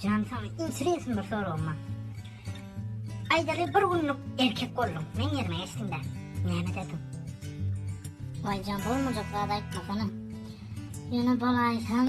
Jan saňa intiresn bir soragym bar. Aýdaly bir günlük erkek bolduň, meň ýerime geçdiňdä. Näme ederdiň? Waý jan bolmajak zat aýtmasana. Ýöne bolaýsaň.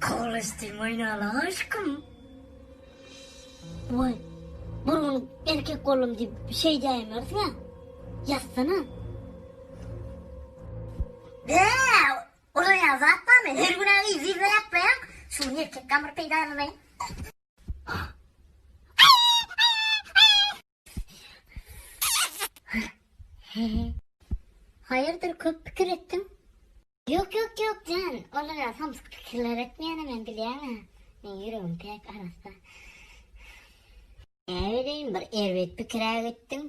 Kowlestim oýnala aşkym. Oy. Bir gün erkek boldum diýip şey diýmeris ya. Ýatsana. Be! Ora ya zat barmy? Her gün aýy zirve ýatmaýan. Şu gün erkek gamyr peýdalanaýyn. Haýyrdyr köp pikir etdiň? Ýok ýok ýok jan, olara samsyk pikirler etmeýäne men bilýäňä. Men ýüregim päk arassa. Näbileýin bir erbet pikir-ä etdiň.